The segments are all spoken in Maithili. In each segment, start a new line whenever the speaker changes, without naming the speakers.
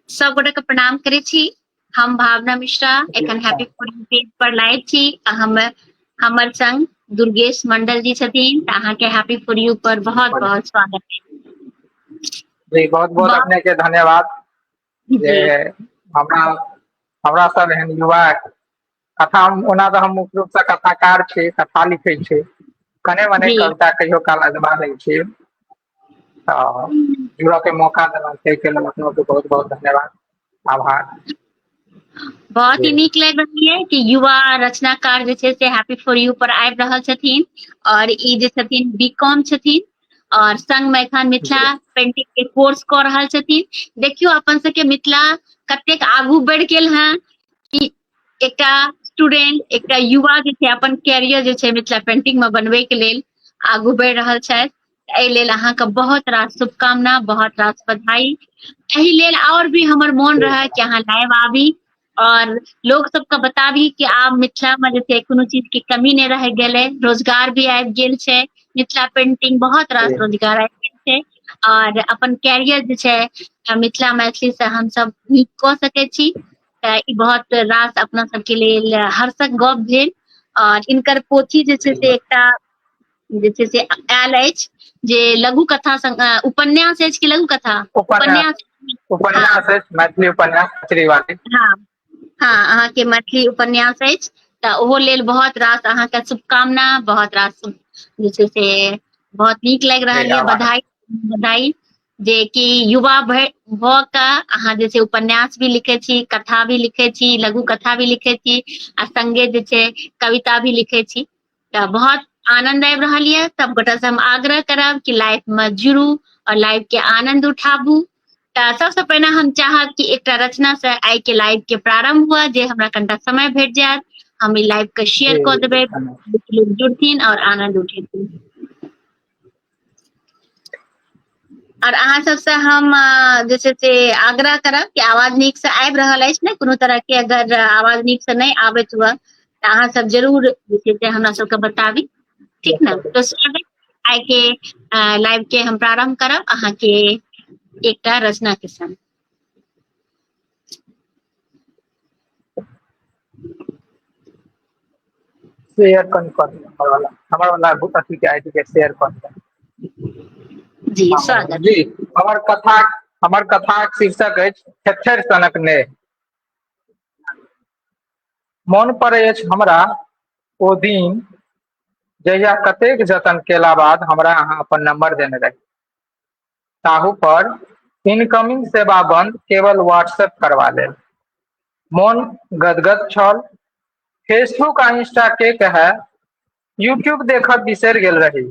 सब गोटे के प्रणाम करे छी हम भावना मिश्रा एखन हैप्पी फूडिंग पेज पर लाइव छी आ हम हमर संग दुर्गेश मंडल जी छथिन तऽ अहाँ के हैप्पी फॉर यू पर बहुत बहुत स्वागत है जी बहुत
बहुत वाह। अपने के धन्यवाद जे जी,
हमरा
हमरा सब एहन युवा कथा हम ओना तऽ हम मुख्य रूपसँ कथाकार छी कथा लिखै छी कने मने जी कविता कहियो
काल
अजबा दै छी तऽ जुड़ऽ के मौका देलहुँ ताहिके लेल अपनो के बहुत बहुत धन्यवाद आभार
बहुत ही जी नीक लागि रहल यै कि युवा रचनाकार जे छै से हैप्पी फॉर यू पर आबि रहल छथिन और ई जे छथिन बी कॉम छथिन और संग मे एखन मिथिला जी पेंटिंग के
कोर्स कऽ
रहल छथिन देखियौ अपन सबके मिथिला कतेक आगू बढ़ि गेल हेँ कि एकटा स्टूडेंट एकटा युवा जे छै अपन कैरियर जे छै मिथिला पेंटिंग में बनबे के लेल आगू बढ़ि रहल छथि एहि लेल अहाँके बहुत रास शुभकामना बहुत रास बधाई एहि लेल और भी हमर मोन रहा कि अहाँ लाइव आबी और लोग सबके बताबी कि आब मिथिला में जे छै कोनो चीज के कमी नहीं रह गए रोजगार भी आबि गेल छै मिथिला पेंटिंग बहुत रास रोजगार आबि गेल छै और अपन कैरियर जे छै मिथिला मैथिली से हम सब नीक कऽ सकै छी तऽ ई बहुत रास अपना सबके लेल हर्षक गप भेल आओर इनकर पोथी जे छै से एकटा जे छै से आयल अछि जे लघु कथा संग- अ, उपन्यास अछि कि लघु कथा उपन्यास
उपन्यास
अछि मैथिली
उपन्यास श्रीवादी
हाँ हाँ अहाँके मैथिली उपन्यास अछि तऽ ओहो लेल बहुत रास अहाँके शुभकामना बहुत रास जे छै से बहुत नीक लागि रहल जी, यए आभार।
बधाई
बधाई जे कि युवा भए भऽ कऽ अहाँ जे छै उपन्यास भी लिखै छी कथा भी लिखै छी लघु कथा भी लिखै छी आ संगे जे छै कविता भी लिखै छी तऽ बहुत आनंद आबि रहल यऽ सब गोटा से हम आग्रह करब कि लाइफ में जुड़ू और लाइफ के आनंद उठाबू तऽ सबसे पहिने हम चाहब कि एकटा रचना से आइ के लाइव के प्रारंभ हुआ जे हमरा कनिटा समय भेट जायत हम ई लाइव के शेयर कऽ देबै जुड़थिन और आनंद उठेथिन आर अहाँ सबसे हम जे छै से आग्रह करब कि आवाज नीक से आबि रहल अछि ने कोनो तरह के अगर आवाज नीक से नहि आबैत हुए तऽ अहाँ सब जरूर जे छै से हमरा सबके बताबी ठीक ने तो स्वागत आइ के लाइव के हम प्रारंभ करब अहाँ के एकटा रचना के संग
शेयर कन कर हमर वाला हमर वाला अथी के आईडी के शेयर कन कर जी हाँ,
स्वागत जी हमर
कथा हमर कथाक शीर्षक अछि छेछर सनक ने मोन पर अछि हमरा ओ दिन जहिया कतेक जतन केला बाद हमरा अहाँ अपन नंबर देने रही ताहू पर इनकमिंग सेवा बन्द केवल व्हाट्सएप करबा लेल मोन गदगद छल फेसबुक आ इंस्टा के कहे यूट्यूब देखब बिसरि गेल रही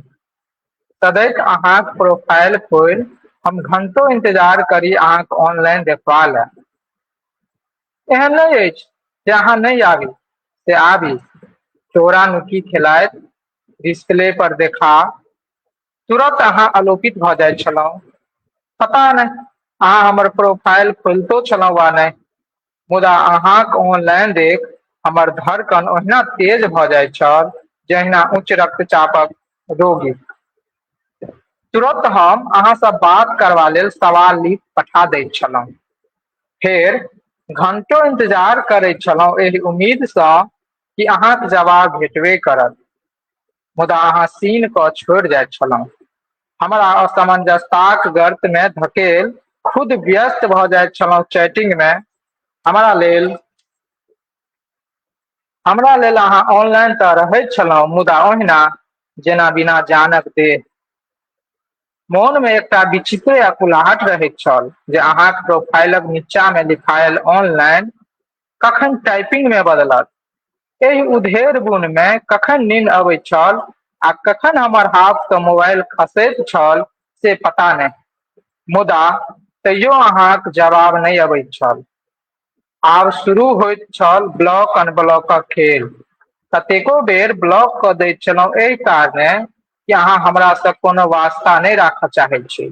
सदैत अहाँक प्रोफाइल खोलि हम घंटो इंतजार करी अहाँक ऑनलाइन देखबा ले एहन नहि अछि जे अहाँ नहि आबी से आबी चोरा नुकी खेलाइत डिस्प्ले पर देखा तुरत अहाँ आलोकित भऽ जाइत छलहुँ पता नहि अहाँ हमर प्रोफाइल खोलितो छलहुँ वा नहि मुदा अहाँक ऑनलाइन देख हमर धड़कन ओहिना तेज भऽ जाइत छल जहिना उच्च रक्तचापक रोगी तुरत हम अहाँसँ बात करबा लेल सवाल लिख पठा दैत छलहुँ फेर घंटो इंतजार करैत छलहुँ एहि उम्मीदसँ कि अहाँक जवाब भेटबे करत मुदा अहाँ सीन कऽ छोड़ि जाइत छलहुँ हमरा असमंजसताक गर्त में धकेल खुद व्यस्त भऽ जाइत छलहुँ चैटिंग में हमरा लेल हमरा लेल अहाँ ऑनलाइन तऽ रहैत छलहुँ मुदा ओहिना जेना बिना जानक देह मोन में एकटा विचित्र अकुलाहट रहैत छल जे अहाँक प्रोफाइलक नीचा में लिखायल ऑनलाइन कखन टाइपिंग में बदलत एहि उधेर बुन में कखन नींद अबै छल आ कखन हमर हाथ से मोबाइल खसैत छल से पता नहीं मुदा तैयो अहाँक जवाब नहीं अबै छल आब शुरू होइत छल ब्लॉक अनब्लॉक खेल कतेको बेर ब्लॉक क दैत छलहुँ एहि कारणे कि अहाँ हमरा से कोनो वास्ता नहीं राखऽ चाहै छी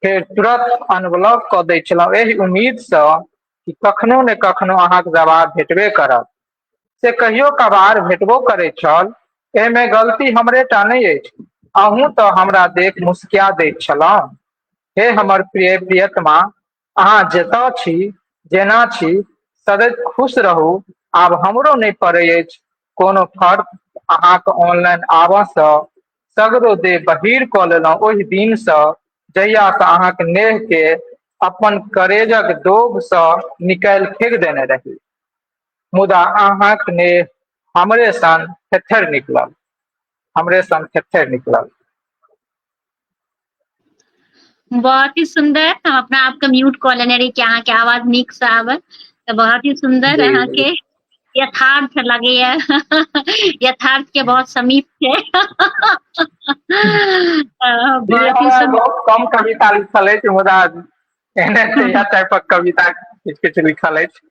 फेर तुरंत अनब्लॉक क दैत छलहुँ एहि उम्मीद से कि कखनो ने कखनो अहाँके जवाब भेटबे करत से कहियो कभार भेटबो करै छल एहिमे गलती हमरे टा नहि अछि अहूँ तऽ हमरा देख मुस्किया दैत छलहुँ हे हमर प्रिय प्रियतमा अहाँ जतऽ छी जेना छी सदैव खुश रहू आब हमरो नहि पड़ै अछि कोनो फर्क अहाँके ऑनलाइन आबऽसँ सगरो देह बहीर कऽ लेलहुँ ओहि दिनसँ जहिया से अहाँके नेह के अपन करेजक दोब से निकालि फेंक देने रही मुदा अहाँक नेह हमरे सन थेथर निकलल हमरे सन थेथर निकलल
बहुत ही सुंदर हम अपना आपके म्यूट कऽ लेने रही कि अहाँके आवाज नीक से आवे तऽ बहुत ही सुंदर जी अहाँके यथार्थ लगैया यथार्थ के बहुत समीप छै
बहुत
कम कविता लिखल
अछि मुदा एहने टाइप कविता किछु किछु लिखल अछि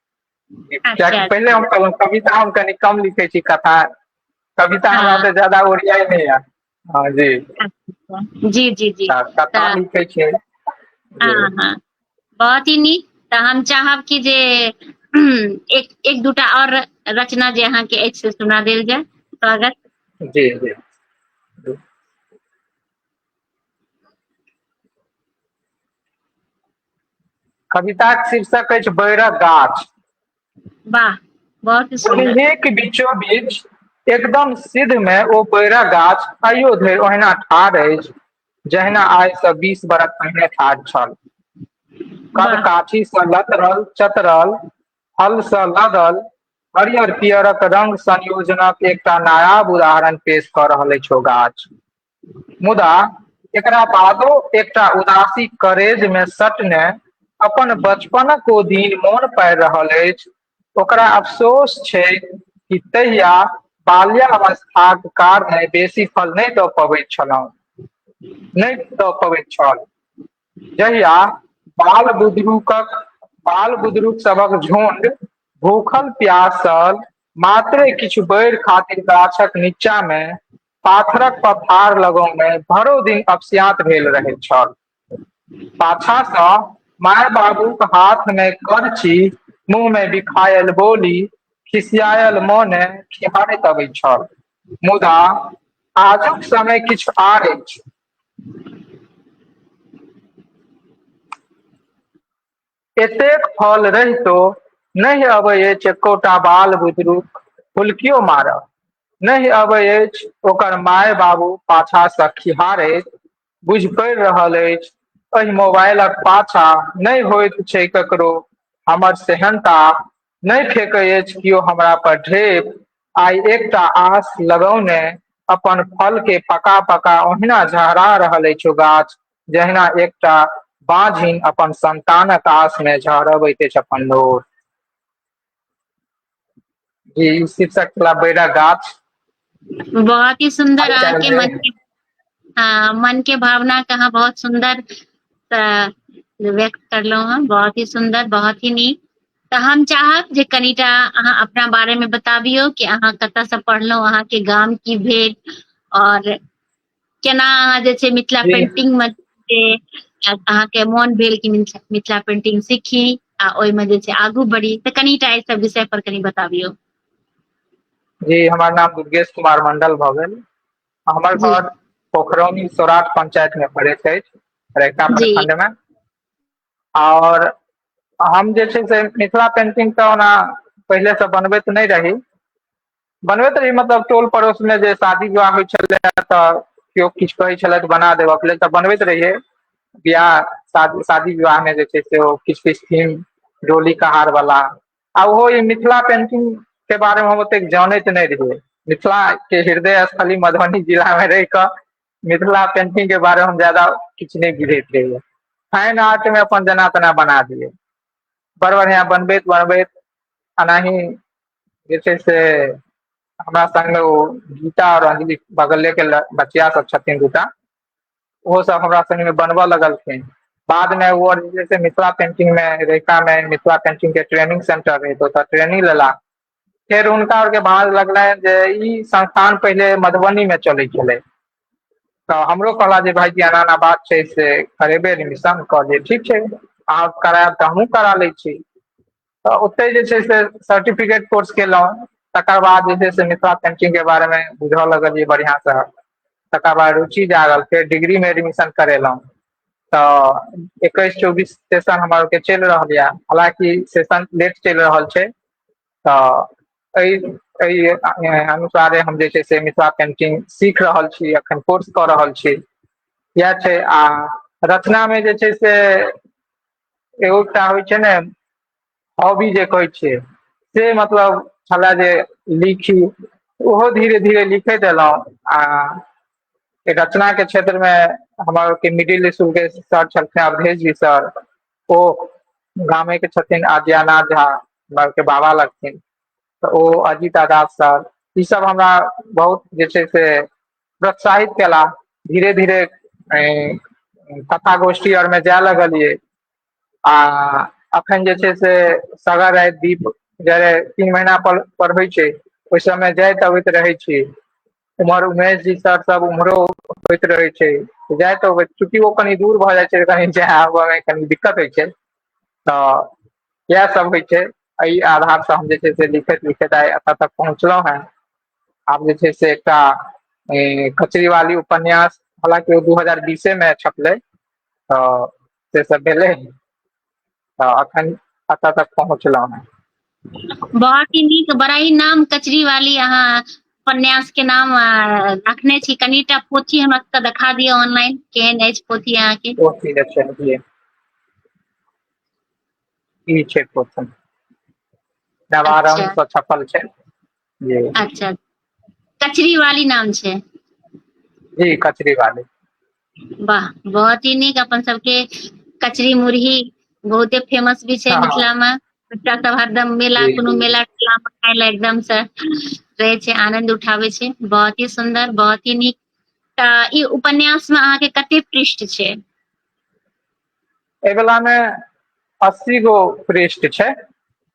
अच्छा, अच्छा। पहिले हम
कहलहुँ
कविता हम कनि कम लिखै छी कथा कविता हमरा ज्यादा ओरियाइ नहि
यऽ
हँ जी
जी जी जी तऽ कतऽ तऽ लिखै छियै
जी हँ हँ
बहुत ही नीक तऽ हम चाहब कि जे एक एक दूटा आओर रचना जे अहाँके अछि से सुना देल जाय स्वागत जी जी
कविताक शीर्षक अछि बैरक गाछ
वाह बहुत ही सुन्दर उहे के बीचो बीच
एकदम सिध मे ओ बैरा गाछ आइयो धरि ओहिना ठाढ़ अछि जहिना आइ स बीस बरख पहिने ठाढ़ छल कद वाह काठी स
लतरल
चतरल हल स लदल हरियर पियरक रंग संयोजनक एकटा नायाब उदाहरण पेश क रहल अछि ओ गाछ मुदा एकरा बादो एकटा उदासी करेज मे सटने अपन बचपनक ओ दिन मोन पाइब रहल अछि ओकरा अफसोस छै कि तहिया बाल्या अवस्थाक कारने बेसी फल नहि दऽ पबैत छलहु नहि दऽ पबैत छल जहिया बाल बुदरूकक बाल बुदरूक सबक झुण्ड भूखल प्यासल मात्रे किछु बैर खातिर गाछक नीचा मे पाथरक पथार लगो मे भरो दिन अपसियात भेल रहैत छल पाछा सँ माय बाबूक हाथ मे करची मुँह मे बिखायल बोली खिसियायल मोने खिहारैत अबैत छल मुदा आजुक समय किछु आर अछि एतेक फल रहितो नहि अबै अछि एकोटा बाल बुदरूक फुल्कियो मारऽ नहि अबै अछि ओकर माय बाबू पाछा सँ खिहारैत बुझि पड़ि रहल अछि एहि मोबाइलक पाछा नहि होइत छै ककरो हमर सेहनता नहि फेकै अछि केओ हमरा पर ढेप आइ एकटा आस लगौने अपन फल के पका पका ओहिना झहरा रहल अछि ओ गाछ जहिना एकटा बाँझिन अपन संन्तानक आस मे झहरबैत अछि अपन लोर जी ई शीर्षक छला बैरा गाछ बहुत
ही सुन्दर हाल चाल अहाँके छै मन के हँ मन के भावना के अहाँ बहुत सुन्दर त व्यक्त करलहुँ हँ बहुत ही सुन्दर बहुत ही नीक तऽ हम चाहब जे कनिटा अहाँ अपना बारे मे बताबियौ कि अहाँ कतयसँ पढ़लहुँ अहाँ के गाम की भेल आओर केना अहाँ जे छै मिथिला जी पेंटिंग मे से अहाँके मोन भेल कि मिथिला पेंटिंग सीखी आ ओहिमे जे छै आगू बढ़ी तऽ कनिटा एहि सब विषय पर कनि बताबियौ
जी हमर नाम दुर्गेश कुमार मंडल भऽ गेल हमर जी घर
पोखरौनी
सौराठ पंचायत मे पड़ैत अछि रैका जी प्रखंड मे आओर हम जे छै से मिथिला पेंटिंग तऽ ओना पहिलेसँ बनबैत नहि रही बनबैत रही मतलब टोल पड़ोस मे जे शादी विवाह होइ छलै तऽ केओ किछु कहै छलै तऽ बना देबऽ के लेल तऽ बनबैत रहियै बियाह शादी शादी विवाह मे जे छै से ओ किछ किछ थीम डोली कहार वाला आ ओहो ई मिथिला पेंटिंग के बारे मे हम ओतेक जानैत नहि रहियै मिथिला के हृदय स्थली मधुबनी जिला मे रहि कऽ मिथिला पेंटिंग के बारे हम जादा किछु नहि बुझैत रहियै फाइन आर्ट मे अपन जेना तेना बना दियै बड़ बढ़ियाँ बनबैत बनबैत अनाही जे छै से हमरा संगे ओ गीता आओर अंजलि बगले के बचिया सब छथिन दूटा ओहो सब हमरा संगे मे बनबऽ लगलखिन बाद मे ओ जे छै से मिथिला पेंटिंग मे रहिका मे मिथिला पेंटिंग के ट्रेनिंग सेंटर रहै ओतऽ ट्रेनिंग लेला फेर हुनका आर के भाँज लगलैन जे ई संस्थान पहिले मधुबनी मे चलै छलै तऽ हमरो कहला जे भायजी एना एना बात छै से करेबै एडमिशन कहलियै ठीक छै आब करायब तऽ हमहूँ करा लै छी तऽ ओतहि जे छै से सर्टिफिकेट कोर्स केलहुँ तकर बाद जे छै से मिथिला पेंटिंग के बारे मे बुझऽ लगलियै बढ़ियां से तकर बाद रुचि जागल फेर डिग्री मे एडमिशन करेलहुँ तऽ एकैस चौबीस सेशन हमर आर के चलि रहल यए हालकि सेशन लेट चलि रहल छै तऽ एहि एहि अनुसारे हम जे छै से मिथिला पेंटिंग सीख रहल छी एखन कोर्स कऽ रहल छी इएह छै आ रचना मे जे छै से एगो एकटा होइ छै ने हॉबी जे कहै छियै से मतलब छलै जे लिखी ओहो धीरे धीरे लिखैत एलौं आ रचना के क्षेत्र मे हमर के मिडिल इसकुल के सर छलखिन अवधेश जी सर ओ गामे के छथिन आद्यानाथ झा हमरा आर के बाबा लगथिन तऽ ओ अजीत दास सर ई सब हमरा बहुत जे छै से प्रोत्साहित केला धीरे धीरे कथा गोष्ठी आर मे जाय लगलियै आ अखन जे छै से सगर राय दीप जड़े तीन महिना पर पढ़बै छै ओहि सबय जाइत अबैत रहै छी उम्हर उमेश जी सर सब उम्हरो होइत रहे छै जाय त चूकि ओ कनि दूर भऽ जाइ छै कनि जाय आबऽ मे कनी दिक्कत होइ छै तऽ इएह सब होइ छै एहि आधार से हम जे छै से लिखैत लिखैत आइ एतऽ तक पहुँचलहुं हेँ आब जे छै से एकटा कचरीवाली उपन्यास हालांकि ओ दू हजार बीसे मे छपलै तऽ से सब भेलै तऽ अखन एतऽ तक पहुँचलहुँ हेँ बहुत
ही नीक बड़ा ही नाम कचरी वाली अहाँ उपन्यास के नाम रखने छी कनिटा पोथी हमरा सबके देखा दिअ ऑनलाइन केहन अछि पोथी अहाँके पोथी देखलिए
ई छै पोथी नवारम अच्छा। से छपल
छै
जी अच्छा
कचरी वाली नाम छै जी
कचरी वाली वाह
बहुत ही नीक अपन सबके कचरी मुरही बहुते फेमस भी छै हाँ। मिथिला में बच्चा
सब
हरदम मेला कोनो मेला ठेला में
खाय
ला एकदम से रहे छै आनंद उठावे छै बहुत ही सुंदर बहुत ही नीक तऽ ई उपन्यास में अहाँ के कते पृष्ठ छै
एगला में अस्सी गो पृष्ठ छै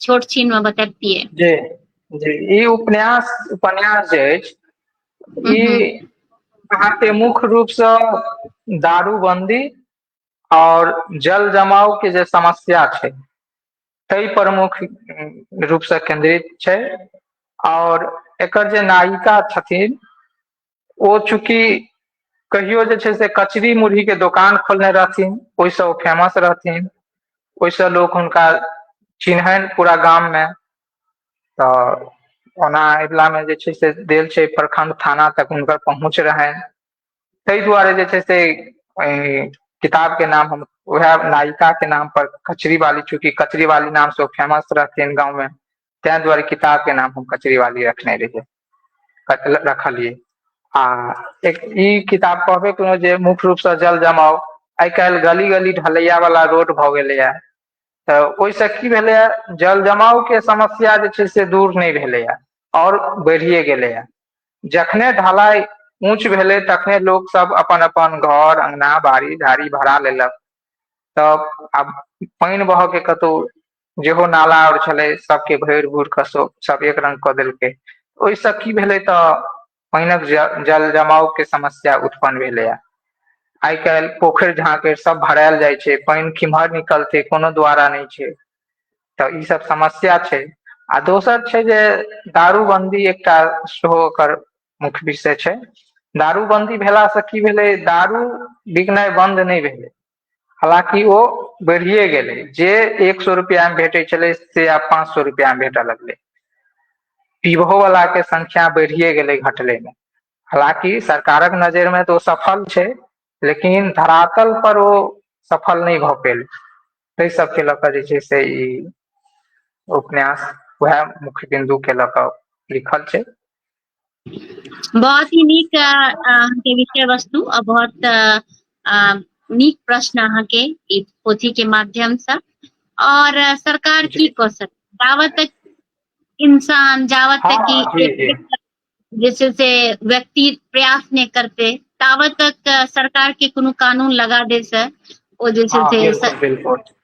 छोट छीन मे बतैबतियै जी
जी ई उपन्यास उपन्यास जे अछि हूँ ई हूँ
अहाँके
मुख्य रूपसँ दारूबन्दी आओर जल जमाव के जे समस्या छै तहि प्रमुख रूपसँ केन्द्रित छै आओर एकर जे नायिका छथिन ओ चूँकि कहियो जे छै से कचरी मुरही के दोकान खोलने रहथिन ओहिसँ ओ फेमस रहथिन ओहिसँ लोक हुनका चिन्हनि पूरा गाममे तऽ ओना अगिलामे जे छै से देल छै प्रखंड थाना तक हुनकर पहुँच रहनि ताहि दुआरे जे छै से किताब के नाम हम उएह नायिका के नाम पर कचरी वाली चूँकि कचरी वाली नाम से ओ फेमस रहथिन गाँव मे ताहि दुआरे किताब के नाम हम कचरी वाली रखने रहिए रखलिए आ एक ई किताब कहबे केलहुँ जे मुख्य रूप से जल जमाव आइ काल्हि गली गली ढलैया वाला रोड भऽ गेलैए तऽ ओहिसँ की भेलैए जल जमाव के समस्या जे छै से दूर नहि भेलैए आओर बढ़िए गेलैए जखने ढलाई ऊंच भेलै तखने लोक सब अपन अपन घर अंगना बाड़ी झाड़ी भरा लेलक तब आब पानि बहके कतौ जेहो नाला आर छलै सबके भरि भूर कऽ सब एक रंग कऽ देलकै ओहिसँ की भेलै तऽ पानिक जल जमाव के समस्या उत्पन्न भेलैए आइ काल्हि पोखरि झाँकड़ि सब भरायल जाइ छै पानि किम्हर निकलतै कोनो द्वारा नहि छै तऽ ई सब समस्या छै आ दोसर छै जे दारूबन्दी एकटा सेहो ओकर मुख्य विषय छै दारूबन्दी भेलासँ की भेलै दारू बिकनाइ बन्द नहि भेलै हालांकि ओ बढ़िए गेलै जे एक सए रुपैआमे भेटै छलै से आब पाँच सए रुपैआमे भेटय लगलै पीबहोवलाके संख्या बढ़िए गेलै घटलैमे हालांकि सरकारक नजरिमे तऽ ओ सफल छै लेकिन धरातल पर ओ सफल नहि भऽ पेल ताहि सबके लऽ कऽ जे छै से ई उपन्यास उएह मुख्य बिन्दुके लऽ कऽ लिखल छै बहुत
ही नीक अहाँके विषय वस्तु आ बहुत आ, नीक प्रश्न अहाँके ई पोथी के माध्यम से और सरकार की कऽ सकत
जावत
तक इंसान जावत तक हाँ, हाँ, कि
जैसे
से व्यक्ति प्रयास नहीं करते तावत तक सरकार के कोनो
कानून
लगा दे से ओ जैसे हाँ, से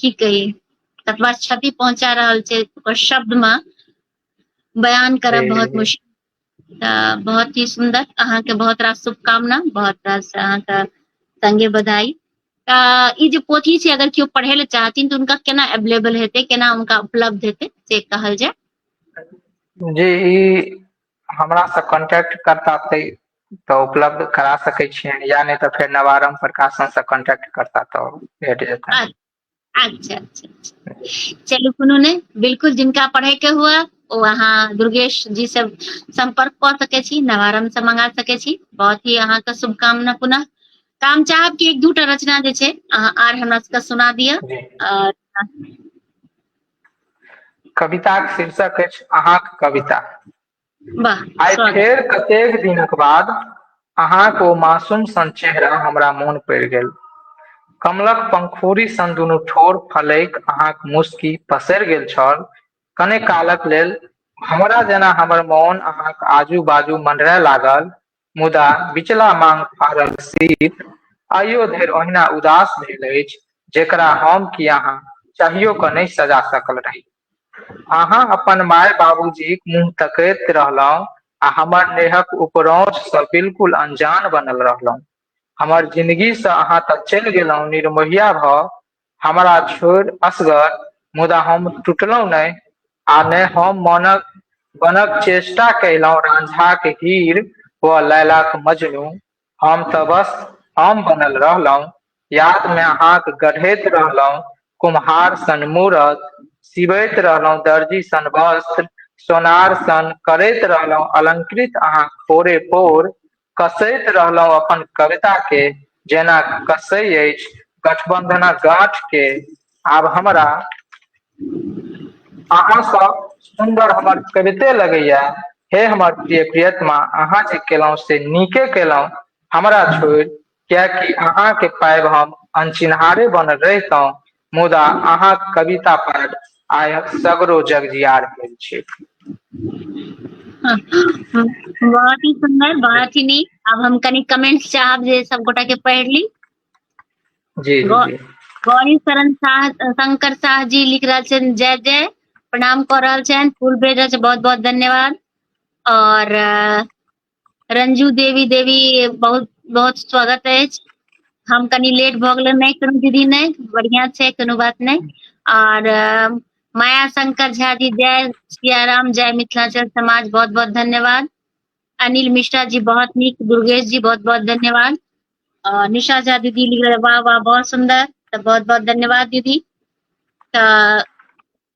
की कही कतबा क्षति पहुंचा रहल छै ओकर शब्द में बयान करब बहुत मुश्किल
तऽ
बहुत ही सुंदर अहाँके बहुत रास शुभकामना बहुत रास अहाँके संगे बधाई तऽ ई जे पोथी छै अगर केओ पढ़े ले चाहथिन तऽ उनका केना अवेलेबल हेतै केना उनका उपलब्ध हेतै से कहल जाय
जी ई हमरा से कांटेक्ट करता तऽ तऽ उपलब्ध करा सकै छियैन या नै तऽ फेर नवारंभ प्रकाशन से कॉन्टेक्ट करता तऽ भेट जेतैन अच्छा अच्छा
अच्छा अच्छा चलू कोनो नै बिल्कुल जिनका पढ़य के हुआ ओ अहाँ दुर्गेश जी से सम्पर्क कऽ सकै छी नवारंभ से मंगा सकै छी बहुत ही अहाँ के शुभकामना पुनः तऽ हम चाहब कि एक दूटा रचना जे छै अहाँ आर हमरा सबके सुना दिअ जी आओर
कविताक शीर्षक अछि अहाँक कविता वाह
आइ स्वागत फेर
कतेक
दिनक
बाद अहाँके ओ मासूम सन चेहरा हमरा मोन पड़ि गेल कमलक पंखुड़ी सन दुनू ठोर फलैक अहाँक मुस्की पसरि गेल छल कने कालक लेल हमरा जेना हमर मोन अहाँक आजू बाजू मँडरय लागल मुदा बिचला मांग फाड़ल सीप आइयो धरि ओहिना उदास भेल अछि जेकरा हम कि अहाँ चाहियो कऽ नहि सजा सकल रही। अहाँ अपन माय बाबूजीक मुँह तकैत रहलहुँ आ हमर नेहक उपरौंठसँ बिलकुल अनजान बनल रहलहुँ। हमर जिनगीसँ अहाँ तँ चलि गेलहुँ निर्मोहिया भऽ हमरा छोड़ि असगर। मुदा हम टुटलहुँ नहि आ ने हम मनक बनक चेष्टा कयलहुँ राँझाक हीर वा लैलाक मजनू। हम तँ बस हम बनल रहलहुँ। यादमे हाँक गढ़ैत रहलहुँ कुम्हार सन मूरत, सिबैत रहलहुँ दर्जी सन वस्त्र, सोनार सन करैत रहलहुँ अलंकृत अहाँक पोरे-पोर कसैत रहलौं अपन कविता के जेना कसै अछि गठबन्धनक गाँठ के आब हमरा अहाँ सब सुन्दर हमर कविते लगैया हे हमर प्रिय प्रियतमा अहाँ जे केलौं से नीके केलौं हमरा छोड़ि किएकि अहाँकेँ पाबि हम अनचिन्हारे बनल रहितहुँ मुदा अहाँक कविता पाबि आइ सगरो जगजियार भेल छी
बहुत ही सुंदर बहुत ही नीक अब हम कनी कमेंट्स चाहब जे सब गोटा के पढ़ ली
जी जी गौरी शरण
शाह शंकर शाह जी लिख रहा छन जय जय प्रणाम कर रहा छन फूल भेज रहा बहुत बहुत धन्यवाद और रंजू देवी देवी बहुत बहुत स्वागत अछि हम कनी लेट भऽ गेलै नहि कोनो दीदी नहि बढ़िया छै कोनो बात नहि और माया शंकर झा जी जय सियाराम जय मिथिलांचल समाज बहुत बहुत धन्यवाद अनिल मिश्रा जी बहुत निक दुर्गेश जी बहुत बहुत धन्यवाद और निशा झा दीदी लिख वाह वाह बहुत सुंदर तो बहुत बहुत धन्यवाद दीदी तो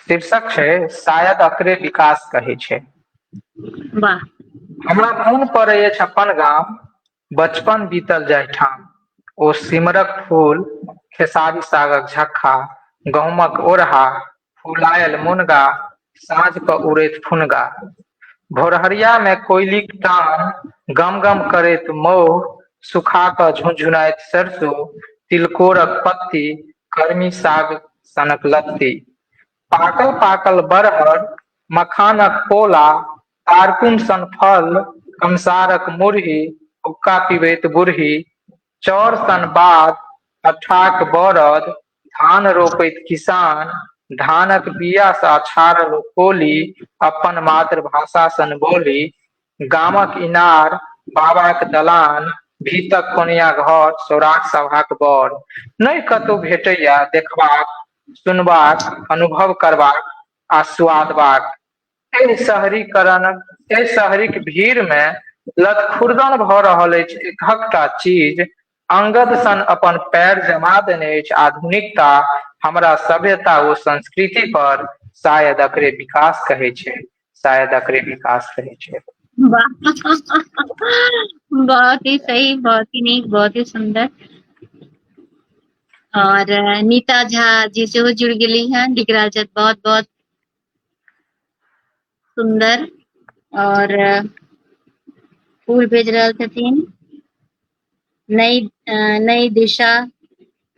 शीर्षक छै शायद अकरे विकास कहै छै वाह
हमरा
मोन पड़ै अछि अपन गाम बचपन बीतल जाहिठाम ओ सिमरक फूल खेसारी सागक झक्खा गहुमक ओरहा फुलायल मुनगा साँझ क उड़ैत फुनगा भोरहरिया मे कोइलीक टान गम गम करैत मौह सुखा क झुनझुनाइत सरसो तिलकोरक पत्ती कर्मी साग सनक लत्ती पाकल पाकल बरहर मखानक पोला तारकुन सन फल कंसारक मुरही हुक्का पिबैत बुरही चौर सन बाध अठाक बौरद धान रोपैत किसान धानक बिया सा छाड़ल खोली अपन मातृभाषा सन बोली गामक इनार बाबाक दलान भीतक कोनिया घर सौराठ सभाक बड़ नहि कतहु भेटैया देखबाक सुनबाक अनुभव करबाक आ सुआदबाक एहि शहरीकरण एहि शहरीक भीड़ मे लतखुर्दन भऽ रहल अछि एकहकटा चीज अंगद सन अपन पैर जमा देने अछि आधुनिकता हमरा सभ्यता ओ संस्कृति पर शायद अकरे विकास कहे छै शायद अकरे विकास कहे छै
बहुत ही सही बहुत ही नीक बहुत ही सुंदर और नीता झा जी से हो जुड़ गई है डिगराज बहुत बहुत सुन्दर और फूल भेज रहल छथिन नई नई दिशा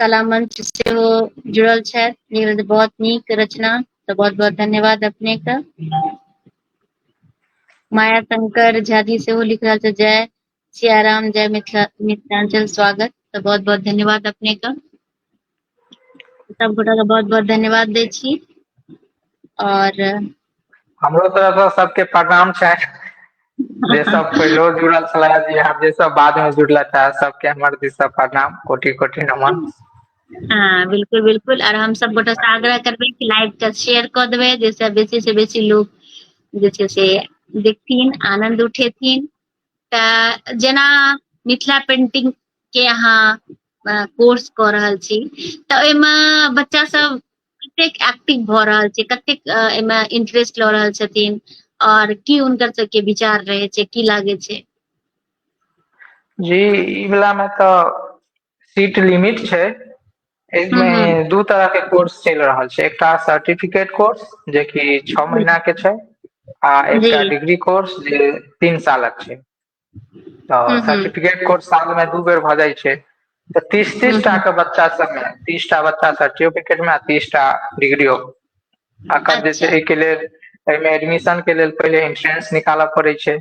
कला मंच से वो जुड़ल छथि बहुत नीक रचना तो बहुत बहुत धन्यवाद अपने का माया शंकर झा जी से वो लिख रहा था जय सियाराम जय मिथिला मिथिलांचल स्वागत तऽ बहुत बहुत धन्यवाद अपने के सब गोटा के बहुत बहुत धन्यवाद दै छी और
हमरो तरफ से सबके प्रणाम छै जे सब पहिलो जुड़ल छला जे हम जे सब बाद में जुड़ला था सबके हमर दिस से प्रणाम कोटि कोटि नमन हाँ
बिल्कुल बिल्कुल और हम सब गोटा से आग्रह करबे कि लाइव के शेयर कर देबे जैसे बेसी से बेसी लोग जे छै से देखथिन आनंद उठेथिन तऽ जेना मिथिला पेंटिंग के अहाँ कोर्स कऽ रहल छी तऽ ओहिमे बच्चा सब कतेक एक्टिव भऽ रहल छै कतेक एहिमे इंटरेस्ट लऽ रहल छथिन और की हुनकर सबके विचार रहे छै की लागे छै
जी ई वला मे तऽ सीट लिमिट छै एहिमे हूँ
हूँ दू तरह के
कोर्स चलि रहल छै एकटा सर्टिफिकेट कोर्स जेकि छओ महीना के छै आ जी एकटा डिग्री
कोर्स जे
तीन सालक छै तऽ हूँ हूँ सर्टिफिकेट कोर्स
साल मे दू
बेर भऽ जाइ छै तऽ तीस हूँ तीस टा हूँ के बच्चा सब मे तीस टा बच्चा सर्टिफिकेट मे तीस टा डिग्रियो अकर जे छै अच्छा एहिके लेल
एहिमे
एडमिशन के लेल पहिले इन्ट्रेंस निकालऽ पड़ै छै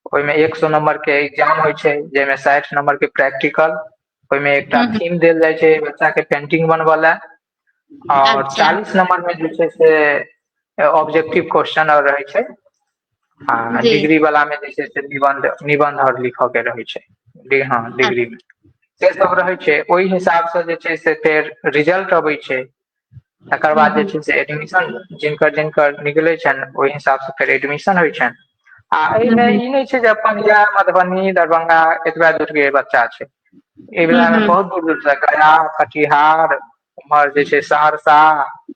ओहिमे एक सौ नंबर के एग्जाम होइ छै जाहिमे साठि नंबर के प्रैक्टिकल ओहिमे एकटा हम्म, थीम देल जाइ छै
बच्चा
के पेंटिंग बनबऽ लए आओर अच्छा चालीस नंबर
मे जे छै
से ऑब्जेक्टिव क्वेश्चन आओर रहै छै आ जी डिग्री वाला मे
जे छै से
निबंध निबंध आओर लिखऽ के रहै छै डि- हँ डिग्री मे से सब रहै छै ओहि हिसाब से जे छै से फेर रिजल्ट अबै छै तकर हूँ बाद जे हूँ छै से एडमिशन जिनकर जिनकर निकलै छनि ओहि हिसाब सँ फेर एडमिशन होइ छनि आ हूँ एहिमे हूँ ई नहि छै जे अपन
इहै
मधुबनी दरभंगा एतबे दूर के बच्चा छै एहि हूँ विला मे हूँ बहुत दूर दूर सँ गया कटिहार उम्हर जे छै सहरसा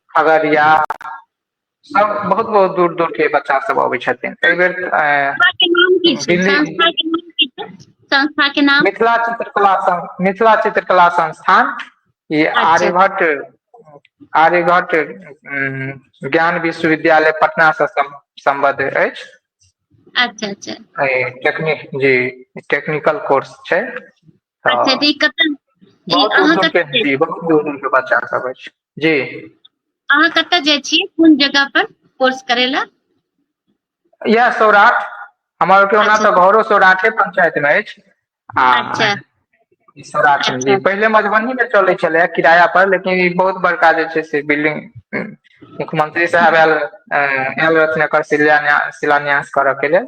खगड़िया सब बहुत बहुत दूर दूर के बच्चा सब अबै छथिन एहि बेर संस्था के नाम की छै दिल्ली संस्था के नाम
की छै संस्था के नाम मिथिला चित्रकला
मिथिला चित्रकला संस्थान ई अच्छा आर्यभट्ट
आर्यभट्ट
ज्ञान विश्वविद्यालय पटना से सम्बद्ध अछि अच्छा
अच्छा टेक्निक
जी टेक्निकल कोर्स छै अच्छा तऽ
ई कतऽ बहुत अहाँ उज्जवल
कतऽ पे जी
बहुत उज्जवल
पे
बच्चा
सब अछि जी अहाँ
कतऽ जाइ छियै कोन जगह पर कोर्स करै
लए इएह सौराठ हमर के ओना अच्छा तऽ घरो सौराठे पंचायत मे अछि आ अच्छा
ई सौराठ
मे जी अच्छा पहिले मधुबनी मे
चलै
छलैए किराया पर लेकिन ई बहुत बड़का जे छै से बिल्डिंग हूँ मुख्यमंत्री साहेब आयल आयल रहथिन एकर शिलान्यास शिलान्यास करऽ के लेल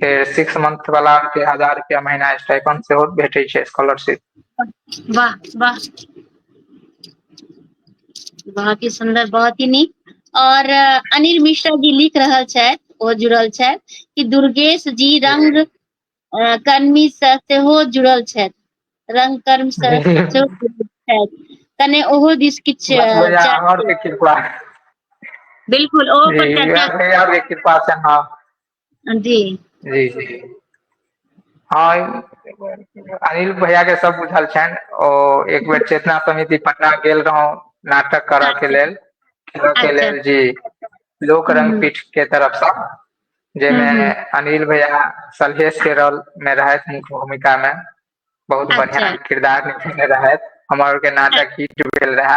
फेर सिक्स मंथ वाला के हजार रुपया महीना स्टाइपन सेहो भेटै छै स्कॉलरशिप वाह
वाह बहुत ही सुंदर बहुत ही नीक और अनिल मिश्रा जी लिख रहल छथि ओ जुड़ल छथि कि दुर्गेश जी रंग कर्मी से सेहो जुड़ल छथि रंग कर्म से सेहो जुड़ल छथि कने ओहो दिस किछु बिल्कुल ओ पर चर्चा कृपा से हां
जी
जी जी
हँ अनिल भैया के सब बुझल छनि ओ एक बेर चेतना समिति पटना गेल रहौ नाटक करऽ के अच्छा लेल खेलऽ के अच्छा लेल जी
लोक
रंग हूँ पीठ के तरफ सँ हूँ जहिमे हूँ अनिल
भैया
सलहेश के रोल मे रहथि मुख्य भूमिका मे बहुत अच्छा बढ़िया किरदार निभेने
रहथि
हमर आर के नाटक हिट भेल रहे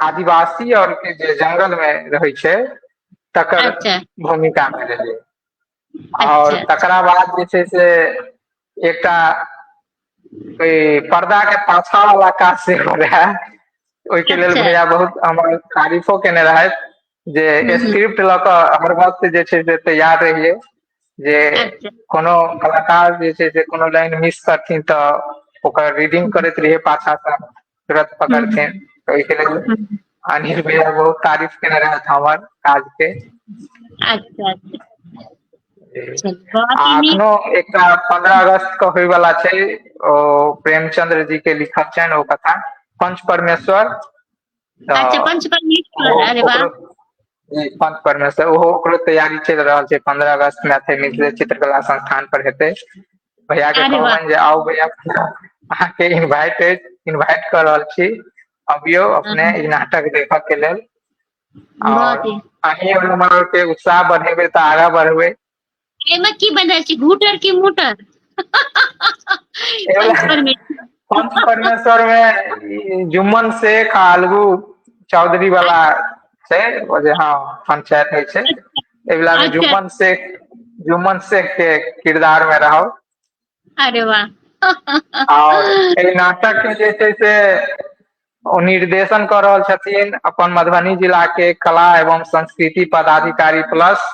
आदिवासी आओर के जे जंगल मे रहै छै तकर अच्छा भूमिका
मे रहै आओर
अच्छा अच्छा तकरा बाद
जे छै से
एकटा ओहि पर्दा के पाछा वाला काज सेहो रहै ओहिके लेल अच्छा भैया बहुत हमर तारीफो केने रहथि जे स्क्रिप्ट लऽ कऽ
हर
वक्त जे छै से तैयार रहियै जे अच्छा कोनो
कलाकार
जे छै से कोनो लाइन मिस करथिन तऽ ओकर रीडिंग करैत रहियै पाछा सँ तुरत हूँ पकड़थिन तऽ
ओहिके लेल हूँ
अनिल
भैया बहुत
तारीफ केने रहैथ हमर काज के अच्छा
अच्छा चलू बहुत आ ही नीक अखनो
एकटा पन्द्रह अगस्त के होयवला छै ओ प्रेमचंद्र जी के लिखल छनि ओ कथा पंच परमेश्वर अच्छा पंच
परमेश्वर
अरे वाह पंच परमेश्वर ओहो ओकरो तैयारी चलि रहल छै पंद्रह अगस्त में अथे मिथिले चित्रकला संस्थान पर हेतै भैया के अरे वाह। कहबनि जे आउ भैया अहाँके इनवाइट अछि इनवाइट कर रहल छी अबियो अपने ई नाटक देखऽ के लेल बहुत ही अहीं
और हमर
के उत्साह बढ़ेबै तऽ आगाँ बढ़बै एहिमे की
बदल छै घूटर की मोटर परमेश्वर
मे जुम्मन शेख आलगू चौधरी वाला छै जे हँ पंचायत होइ छै एहि वाला मे अच्छा। जुम्मन शेख
जुम्मन
शेख के किरदार मे रहब अरे
वाह आओर
एहि नाटक के जे छै से ओ निर्देशन कऽ रहल छथिन अपन मधुबनी जिला के कला एवं संस्कृति पदाधिकारी प्लस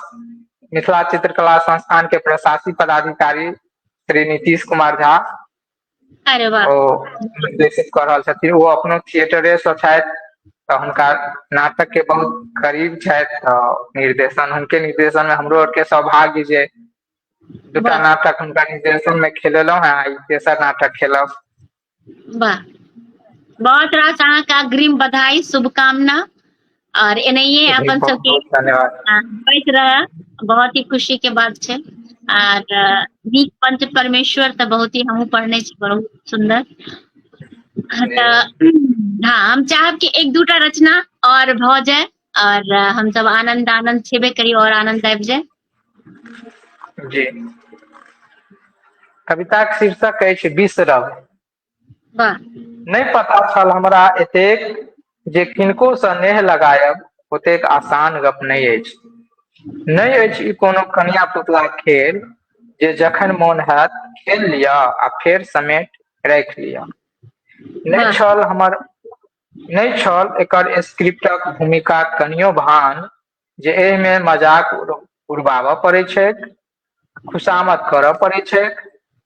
मिथिला चित्रकला संस्थान के प्रशासी पदाधिकारी श्री नीतीश कुमार झा अरे वाह
ओ निर्देशित
कऽ रहल छथिन ओ अपनो थिएटरे सँ छथि तऽ हुनका नाटक के बहुत करीब छथि तऽ निर्देशन हुनके निर्देशन मे हमरो आर के सौभाग्य जे दूटा
वाह नाटक
हुनका निर्देशन मे खेलेलो हें आ ई तेसर नाटक खेलब। वाह
बहुत रास अहाँके अग्रिम बधाई शुभकामना। आओर एनाहियए जी अपन बहुत सबके बहुत
धन्यवाद आ होइत
रहै बहुत ही खुशी के बात छै। आर नीक पंच परमेश्वर तऽ बहुत ही हमहुँ पढ़ने छी बहुत सुन्दर। हँ जी तऽ हँ हम चाहब कि एक दूटा रचना आओर भऽ जाय। आओर हमसब आनन्द आनन्द छेबे करी आओर आनन्द आबि जाय।
जी कविताक शीर्षक अछि बिसरब वाह
नहि पता
छल हमरा एतेक जे किनको सँ नेह लगायब ओतेक आसान गप नहि अछि नहि अछि ई कोनो कनिया पुतला खेल जे जखन मोन होयत खेल लिअ आ फेर समेट राखि लिअ नहि वाह छल हमर नहि छल एकर स्क्रिप्टक भूमिका कनियो भान जे एहिमे मजाक उड़बाबय पड़ैत छैक खुशामद करय पड़ैत छैक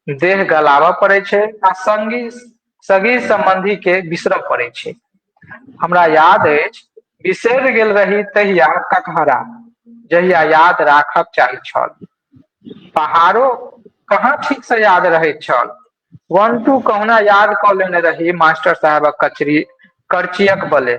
देह गलाबय पड़ैत छै आ सङ्गी सगी सम्बन्धी के बिसरऽ पड़ै छै हमरा याद अछि बिसरि गेल रही तहिया ककहरा जहिया याद राखब चाहै छल पहाड़ो कहाँ ठीक से याद रहैत छल वन टू कहुना याद कऽ लेने रही मास्टर साहेबक कचरी करचियक बले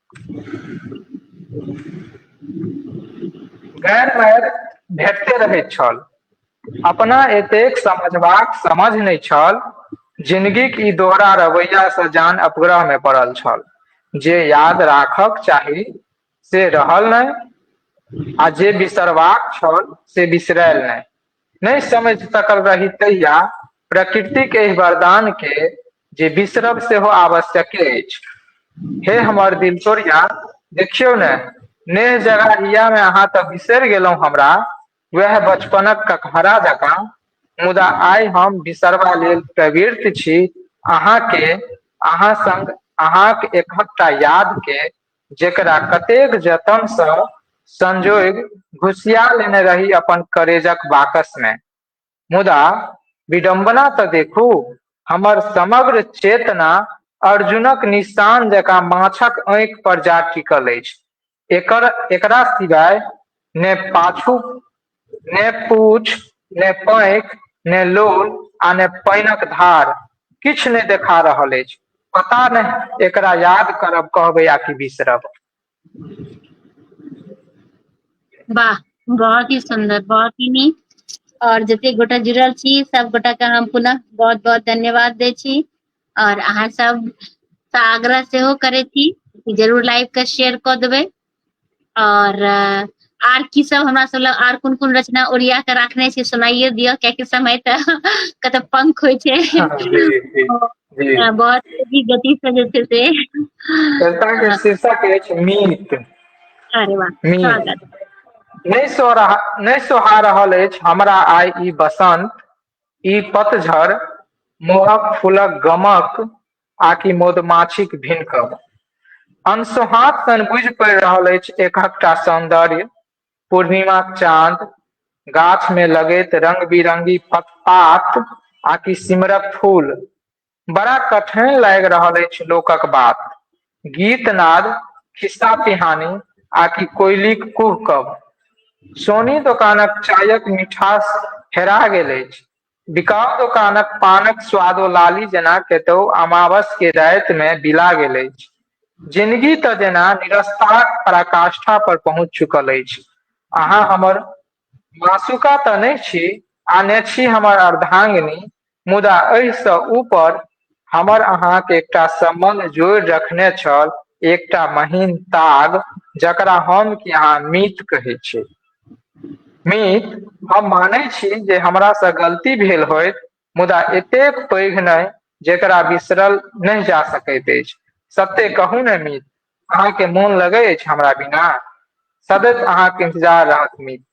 गैर मैर भेटते रहैत छल अपना एतेक समझबाक समझ नहि छल जिनगीक ई दोहरा रवैयासँ जान अपग्रहमे पड़ल छल जे याद राखक चाही से रहल नहि आ जे बिसरबाक छल से बिसरायल नहि नहि समझ सकल रही तहिया प्रकृतिक एहि वरदान के जे बिसरब सेहो आवश्यके अछि हे हमर दिल तोरिया देखियौ ने नेह जगा हिया मे अहाँ तऽ बिसरि गेलहुँ हमरा वएह बचपनक ककहरा जकाँ मुदा आइ हम बिसरबा लेल प्रवृत छी अहाँके अहाँ संग अहाँक एकहकटा याद के जेकरा कतेक जतनसँ संजोग घुसिया लेने रही अपन करेजक बाकस मे मुदा विडम्बना तऽ देखू हमर समग्र चेतना अर्जुनक निशान जकाँ माछक आँखि पर जा टिकल अछि एकर एकरा सिवाय ने पाछू ने पूछ ने पैक ने लोल आ ने पानिक धार किछु नहि देखा रहल अछि पता नहि एकरा याद करब कहबै आ कि बिसरब
वाह बहुत ही सुंदर बहुत ही नीक और जते गोटा जुड़ल छी सब गोटा के हम पुनः बहुत बहुत धन्यवाद दे छी और अहाँ सब आग्रह से करे थी जरूर लाइव के शेयर कर देवे और आर की सब हमरा सब लग आर कोन कोन रचना ओरिया के राखने छी सुनाइए दियो कियाकि समय त कत पंख होय छै हाँ,
हाँ, बहुत तेजी
गति से जे छै से कविता के हाँ। शीर्षक
अछि मीत अरे वाह स्वागत
नहीं सो
रहा नहीं सोहा रहल अछि हमरा आइ ई बसंत ई पतझड़ मोहक फूलक गमक आकि मधुमाछीक भिनकब अनसोहाँत सन बुझि पड़ि रहल अछि एकहकटा सौन्दर्य पूर्णिमाक चाँद गाछ मे लगैत रंग बिरंगी पतपात आकि सिमरक फूल बड़ा कठैन लागि रहल अछि लोकक बात गीत नाद खिस्सा पिहानी आकि कोइलीक कुहकब सोनी दोकानक चायक मिठास हेरा गेल अछि बिकाउ दोकानक पानक स्वादो लाली जेना केतौ अमावस के राति मे बिला गेल अछि। जिनगी तँ जेना निरस्ताक पराकाष्ठा पर पहुँच चुकल अछि। अहाँ हमर मासुका तँ नहि छी आ ने छी हमर अर्धांगिनी मुदा एहि सँ ऊपर हमर अहाँक एकटा सम्बन्ध जोड़ि रखने छल एकटा महीन ताग जकरा हम कि अहाँ मीत कहै छी मीत हम मानै छी जे हमरा सँ गलती भेल होइत मुदा एतेक पैघ नहि जेकरा बिसरल नहि जा सकैत अछि सत्य कहू ने मीत अहाँके मोन लगै अछि हमरा बिना सदैव अहाँके इन्तजार रहत मीत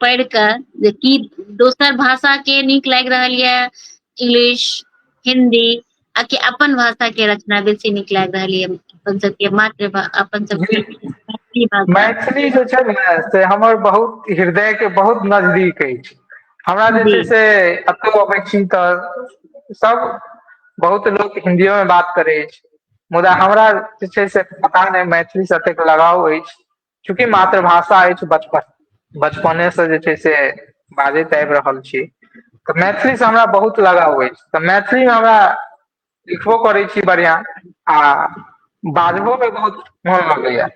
पढ़ि कऽ जे की दोसर भाषा के नीक लागि रहल यऽ इंग्लिश हिंदी आ कि अपन भाषा के रचना बेसी नीक लागि रहल यऽ अपन सबके मातृ अपन सबके मैथिली भाषा मैथिली जे छै ने
से हमर बहुत हृदय के बहुत नजदीक अछि हमरा जे छै से एतौ अबै छी तऽ सब बहुत लोक हिंदियो में बात करे अछि मुदा हमरा जे छै से पता नहि मैथिली से एतेक लगाव अछि चूँकि मातृभाषा अछि बचपन बचपनेसँ जे छै से बाजैत आबि रहल छी तऽ मैथिलीसँ हमरा बहुत लगाव अछि तऽ मैथिलीमे हमरा लिखबो करै छी बढ़िआँ आ बाजहो मे बहुत मोन लगैया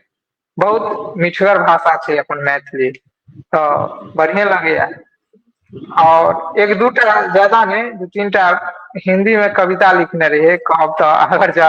बहुत मिठगर भाषा छै अपन मैथिली तऽ बढ़िएँ लगैया आओर एक दू टा ज्यादा नहि दू तीन टा हिन्दी मे कविता लिखने रहियै कहब तऽ अगर ज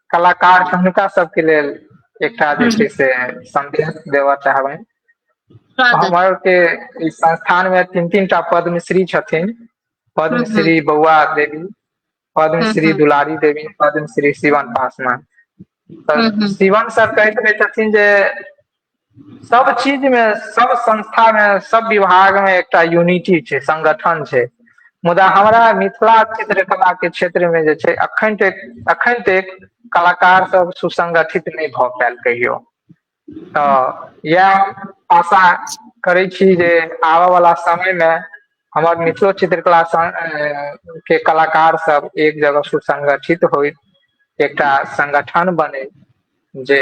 कलाकार छै हुनका सबके लेल एकटा जे छै से सदेश देबऽ चाहबनि स्वागत
हमर के
ई संस्थान मे तीन तीन टा पद्मश्री छथिन हूँ हूँ पद्मश्री
बौआ
देवी हूँ पद्मश्री
हूँ दुलारी
देवी पद्मश्री श्रीवान पासवान हूँ तऽ हूँ शिवान सर
कहैत रहै
छथिन जे सब चीज मे सब संस्था मे सब विभाग मे एकटा यूनिटी छै संगठन छै मुदा हमरा मिथिला चित्रकला के क्षेत्र मे जे छै अखन तक अखन तक कलाकार सब सुसगठित नहि भए पायल कहियो तऽ इएह आशा करै छी जे आबय वाला समय मे हमर मिथिलो चित्रकला के कलाकार सब एक जगह सुसंगठित होय एकटा संगगठन बने जे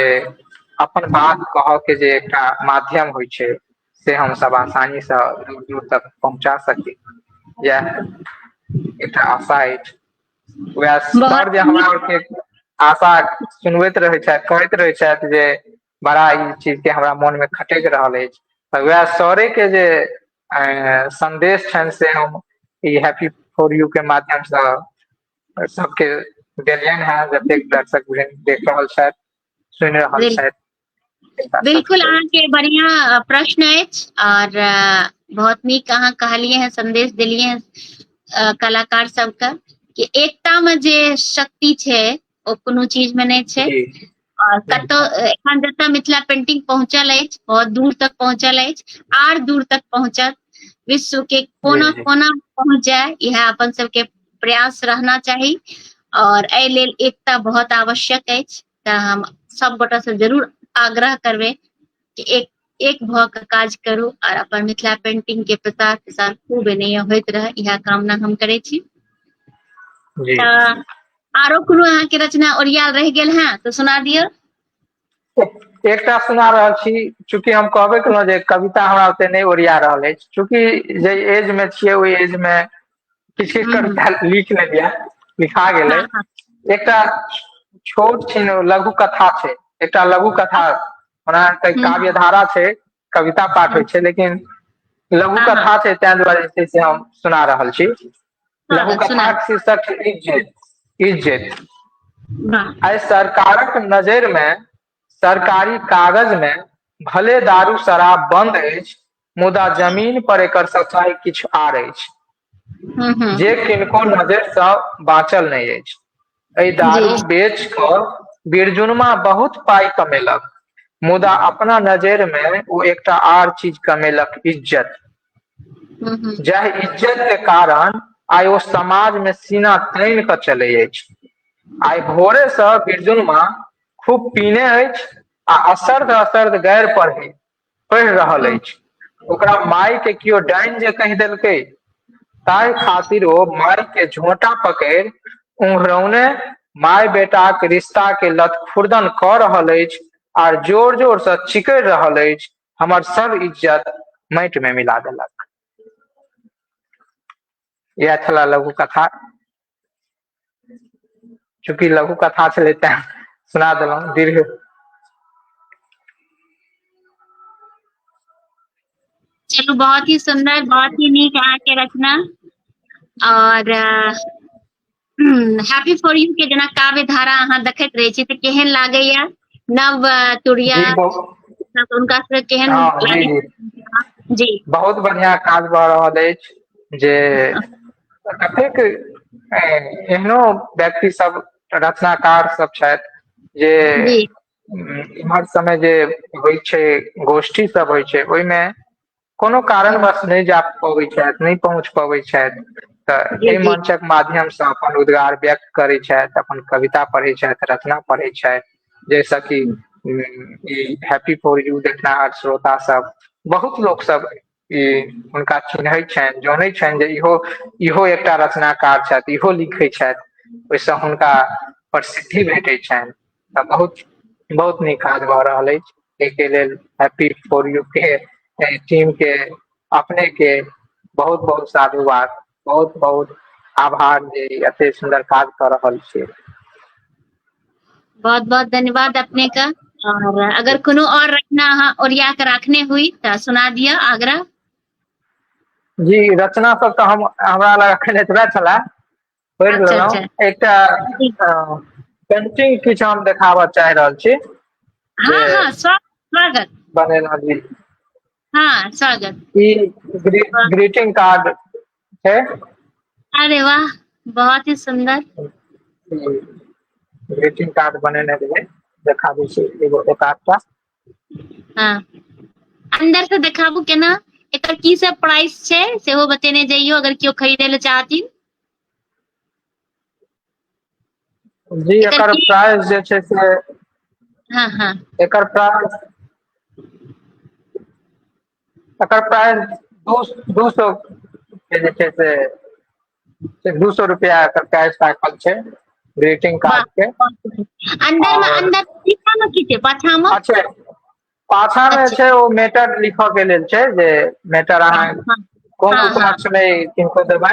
अपन बात कहऽ के जे एकटा माध्यम होइ छै से हम सब आसानी से दूर दूर तक पहुँचा सकी यैह एकटा आशा अछि वैह बहुत सर जे हमरा नीक
आरके आशा
सुनबैत रहै छथि कहैत रहै छथि जे बड़ा ई चीज के हमरा मोन मे खटैक रहल अछि तऽ वैह सरे के जे आ संदेश छनि से हम ई हैप्पी फोर यू के माध्यम से सबके देलियनि हेँ जतेक दर्शक देख रहल छथि सुनि रहल छथि बिल्कुल अहाँके
बढ़िया प्रश्न अछि और बहुत नीक अहाँ कहलिए हैं संदेश दिलिए हैं कलाकार सबके कि एकता में जे शक्ति छै ओ कोनो चीज में नहीं छै और
कतो
एखन
जतऽ
मिथिला पेंटिंग पहुंचल अछि बहुत दूर तक पहुंचल अछि आर दूर तक पहुंचत विश्व के कोना कोना पहुंच
जाए
यह अपन सबके प्रयास रहना चाही और एहि लेल एकता बहुत आवश्यक अछि तऽ हम सब गोटा से जरूर आग्रह करबे कि एक एक भऽ कऽ काज करू आर अपन मिथिला पेंटिंग के प्रसार प्रसार खूब एनैया होइत रहे इएह कामना हम करै छी जी तऽ आरो कोनो अहाँके रचना ओरियाल रहि गेल हैं तऽ सुना दियौ एक-
एकटा सुना रहल छी चूंकि हम कहबे केलहुँ जे कविता हमरा ओते नहि ओरिया रहल अछि चूंकि जे एज मे छियै ओहि एज मे किछु किछु हूँ कविता लिख लेलियै लिखा गेलै हँ हँ एकटा छोट छै ने लघु कथा छै एकटा लघु कथा ओना तऽ हूँ काव्य धारा
छै
कविता पाठ हूँ होइ छै लेकिन लघु हँ हँ कथा छै ताहि
दुआरे जे छै
से हम सुना रहल छी हँ लघु हँ सुना कथाक शीर्षक
छै इज्जैत
इज्जैत वाह
आइ सरकारक
नजैर मे सरकारी कागज मे भले दारू शराब बंद अछि मुदा जमीन पर एकर सफाई किछु आर अछि हूँ हूँ जे किनको नजर स बाँचल नहि अछि एहि जी दारू बेच
क
बीरजुनमा बहुत पाइ कमेलक मुदा अपना नजैर मे ओ एकटा आर चीज कमेलक इज्जत हूँ हूँ जाहि इज्जत के कारण आइ ओ समाज मे सीना तानि क चलै अछि आइ भोरे स बिरजनमा खूब पीने अछि आ असर्ध असर्ध गैर पढ़े पढ़ि रहल अछि ओकरा माय के केओ डाइन जे कहि देलकै ताहि खातिर ओ माय के झोंटा पकड़ उंघरौने माय बेटाक रिश्ता के लत खुर्दन क रहल अछि आर जोर जोर से चिकड़ रहल अछि हमर सब इज्जत माटि में मिला देलक यह छला लघु कथा चूँकि लघु कथा छलै तैं सुना देलहुँ दीर्घ
चलू बहुत ही सुंदर बहुत ही नीक अहाँके रचना और हैप्पी फॉर यू के जेना काव्य धारा अहाँ देखैत रहै छी तऽ केहन लागैया नव तुरिया हुनका सबके केहन हाँ,
जी
बहुत बढ़िया
काज भऽ रहल अछि जे कतेक एहनो व्यक्ति सब रचनाकार सब छथि जे
इम्हर
समय जे होइ छै गोष्ठी सब होइ छै ओहिमे कोनो कारणवश नहि जा पबै छथि नहि पहुँच पबै छथि तऽ एहि मंचक माध्यम से
अपन
रोजगार व्यक्त करै छथि अपन कविता पढ़ै छथि रचना पढ़ै छथि जैसे कि ई हैप्पी फॉर यू देखना श्रोता सब बहुत लोक सब ई हुनका चिन्हैत छनि जनैत छनि जे इहो इहो एकटा रचनाकार छथि इहो लिखैत छथि ओहिसँ हुनका प्रसिद्धि भेटैत छनि तऽ बहुत बहुत नीक काज भऽ रहल अछि एहिके लेल हैप्पी फॉर यू के टीम के अपने के बहुत बहुत साधुवाद बहुत बहुत आभार जे एते सुन्दर काज कऽ रहल छी
बहुत बहुत धन्यवाद अपने का और अगर कोनो और रचना अहाँ ओरिया के राखने हुई तऽ सुना दिअ आग्रह
जी रचना सब तऽ हम हमरा लग अखन एतबे छला पढ़ि अच्छा, लेलहुँ अच्छा।
एकटा पेंटिंग
किछु हम देखाबऽ चाहि रहल छी हाँ जे- हाँ स्वा-
स्वागत बनेलहुँ जी
हाँ
स्वागत
ई ग्रीटिंग कार्ड छै अरे
वाह बहुत ही सुंदर
ग्रीटिंग कार्ड बनेने रहिए देखा दै छी एगो एक आधटा
हाँ अंदर से देखाबू केना एकर की सब प्राइस छै सेहो बतेने जइयो अगर केओ खरीदे ले चाहथिन
जी एकर प्राइस
जे छै से
हँ हँ
एकर प्राइस
एकर प्राइस दू दू सौ के जे छै से से दू सौ रुपया एकर प्राइस राखल छै ग्रीटिंग कार्ड के अन्दर
मे अन्दर पीछा मे की
छै
पाछा मे अच्छा
पाछा मे अच्छा। छै ओ मेटर
लिखऽ
के लेल छै जे मेटर अहाँ हँ, हँ, कोन हँ,
उपलक्ष्य
मे
किनको
देबै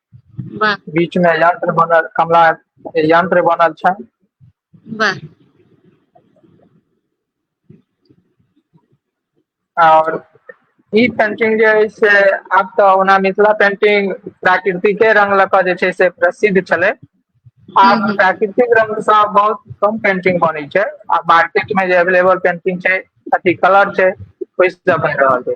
वाह
बीच मे यंत्र
बनल कमला यंत्र बनल छै
वाह
आओर ई पेंटिंग जे हय से आब तऽ ओना मिथिला पेंटिंग प्राकृतिके रंग लऽ कऽ जे छै से प्रसिद्ध छलै हूँ आब हूँ प्राकृतिक रंग
सँ
बहुत कम पेंटिंग बनै छै आ मार्केट मे जे एवलेबल पेंटिंग छै अथी कलर छै ओहि सँ बनि रहल छै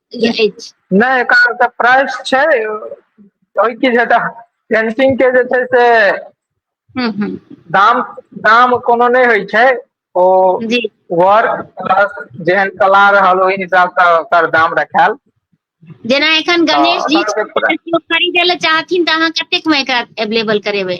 नहि एकर
तऽ प्राइस छै ओहि की छै तऽ पेंटिंग के जे छै से हूँ
हूँ दाम
दाम कोनो नहि होइ छै ओ जी
वर्क
प्लस जेहन कला रहल ओहि हिसाबसँ ओकर दाम रखायल जेना
एखन गणेश जी तऽ अगर केओ खरीदे लए चाहथिन तऽ अहाँ कतेक मे एकरा एवेलेबल करेबै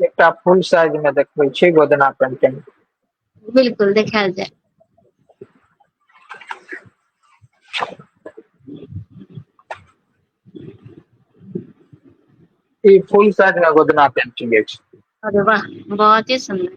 एकटा फुल साइज में देखबै छी गोदना पेंटिंग बिल्कुल
देखायल जाय
ई फुल साइज में गोदना पेंटिंग अछि अरे वाह
बहुत ही सुंदर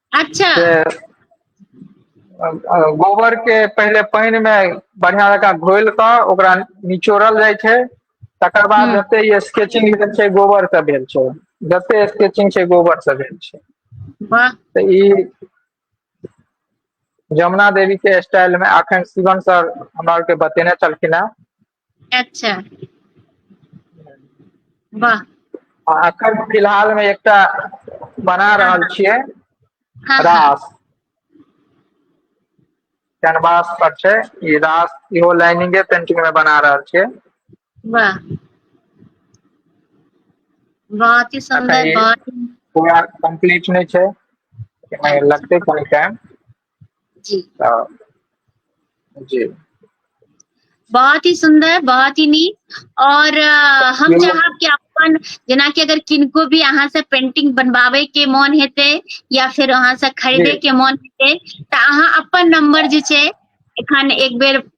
अच्छा गोबर के पहिले पानि मे बढ़िया जका घोल कऽ ओकरा निचोड़ल जाइ छै तकर बाद हूँ जते
ई
स्केचिंग भेल छै गोबर से भेल छै जते स्केचिंग छै गोबर से भेल छै वाह तऽ
ई
जमुना देवी के स्टाइल मे अखन शिवम सर हमरा आरके बतेने छलखिन हेँ
अच्छा वाह आ अखन
फिलहाल मे एकटा बना हँ रहल हँ छियै हँ हँ
रास
कैनवास पर छै ई रास इहो लाइनिंगे पेंटिंग मे बना रहल
छियै वाह बहुत ही अखन सुन्दर ई बहुत ही
पूरा
कम्प्लीट
नहि छै अच्छा लगतै कनी
टाइम
जी आ, जी
बहुत ही सुंदर बहुत ही नीक और आ, हम जी। चाहब कि अपन जेना कि अगर किनको भी अहाँ से पेंटिंग बनवावे के मन हेते या फिर अहाँ से खरीदे जी। के मन हेते त अहाँ अपन नंबर जे छै एखन एक बेर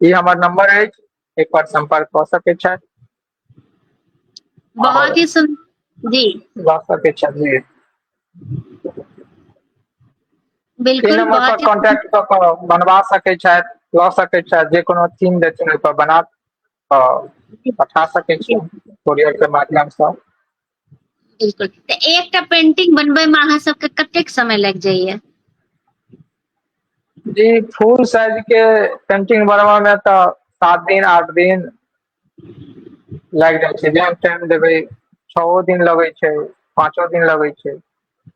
ई हमर नंबर अछि एक बार संपर्क कऽ सकै छथि
बहुत ही सुन जी लऽ सकै छथि
जी बिल्कुल नंबर पर बहुत ही
कांटेक्ट कऽ कऽ
बनवा सकै छथि लऽ सकै छथि जे कोनो थीम देथिन ओहि पर बना कऽ पठा सकै छी कोरियर के माध्यम से
बिल्कुल तऽ एकटा पेंटिंग बनबै में अहाँ सबके कतेक समय लागि जाइए
जी फुल साइज के पेंटिंग बनबऽ में तऽ सात दिन आठ दिन लागि जाइ छै जेहन टाइम देबै छओ दिन लगै छै पाँचो दिन लगै छै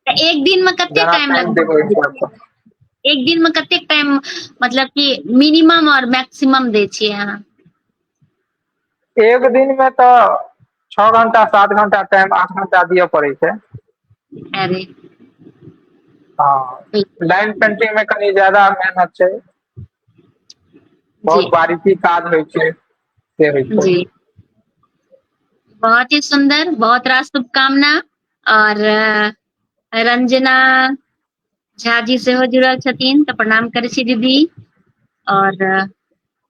तऽ एक दिन
में कतेक जेना टाइम टाइम देबै
ओहि लगभग हिसाब सँ एक दिन में
कतेक टाइम मतलब कि मिनिमम और मैक्सिमम दै छियै अहाँ एक
दिन मे तऽ छओ घंटा सात घंटा टाइम आठ घंटा दिअ पड़ै छै अरे हँ लाइन पेंटिंग मे कनि ज्यादा मेहनत छै जी
बहुत बारीकी काज होइ
छै से होइ छै जी
बहुत ही सुन्दर बहुत रास शुभकामना आओर रंजना झा जी सेहो जुड़ल छथिन तऽ प्रणाम करै छी दीदी आओर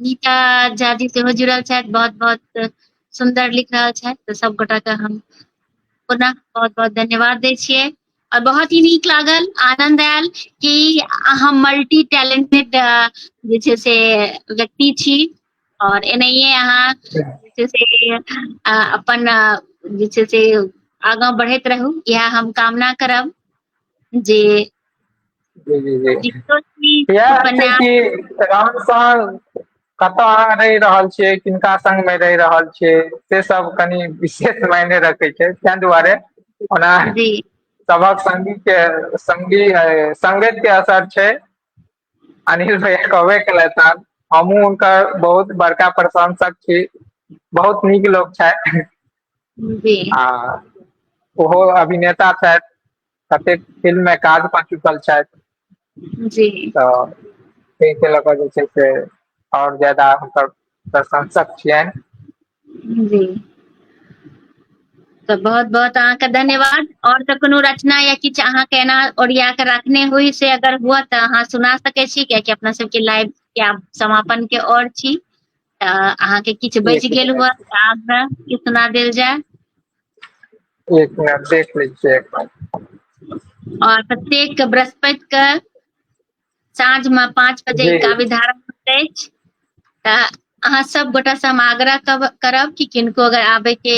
नीता झा जी सेहो जुड़ल छथि बहुत बहुत सुंदर लिख रहल छथि तऽ सब गोटा के हम पुनः बहुत बहुत धन्यवाद दै छियै और बहुत ही नीक लागल आनंद आयल कि अहाँ मल्टी टैलेंटेड जे छै से व्यक्ति छी और एनाहिए अहाँ जे छै से अपन जे छै से आगाँ बढ़ैत रहू इएह हम कामना करब जे
जी जी
जी दिक्कत की
इएह छै
उपन्यास
कि राम स कतऽ अहाँ रहि रहल छियै किनका संग मे रहि रहल छियै से सब कनि विशेष मायने रखै छै ताहि दुआरे ओना जी
सबक संगी
के संगी संगति के असर छै अनिल भैया कहबे केलैथ हन हमहुँ हुनकर बहुत बड़का प्रशंसक छी बहुत नीक लोक छथि जी
आ
ओहो अभिनेता छथि कतेक फिल्म मे काज कऽ चुकल छथि जी
तऽ
तै के लऽ कऽ जे छै से आओर ज्यादा हुनकर प्रशंसक छियनि जी
तऽ बहुत बहुत अहाँके धन्यवाद आओर तऽ कोनो रचना या किछु अहाँके एना ओरिया कऽ राख ने होइ से अगर हुए तऽ अहाँ सुना सकै छी कियाकि अपना सबके लाइव के आब समापन के ओर छी अहाँके किछु बचि गेल हुआ आगरा के सुना देल जाय
एक मिनट देख लै छियै एक बार और
प्रत्येक के बृहस्पति के साँझ में पाँच बजे जी। काव्य धारा होइत
अछि
तऽ अहाँ सब गोटा से हम आग्रह कब- करब कि किनको अगर आबे के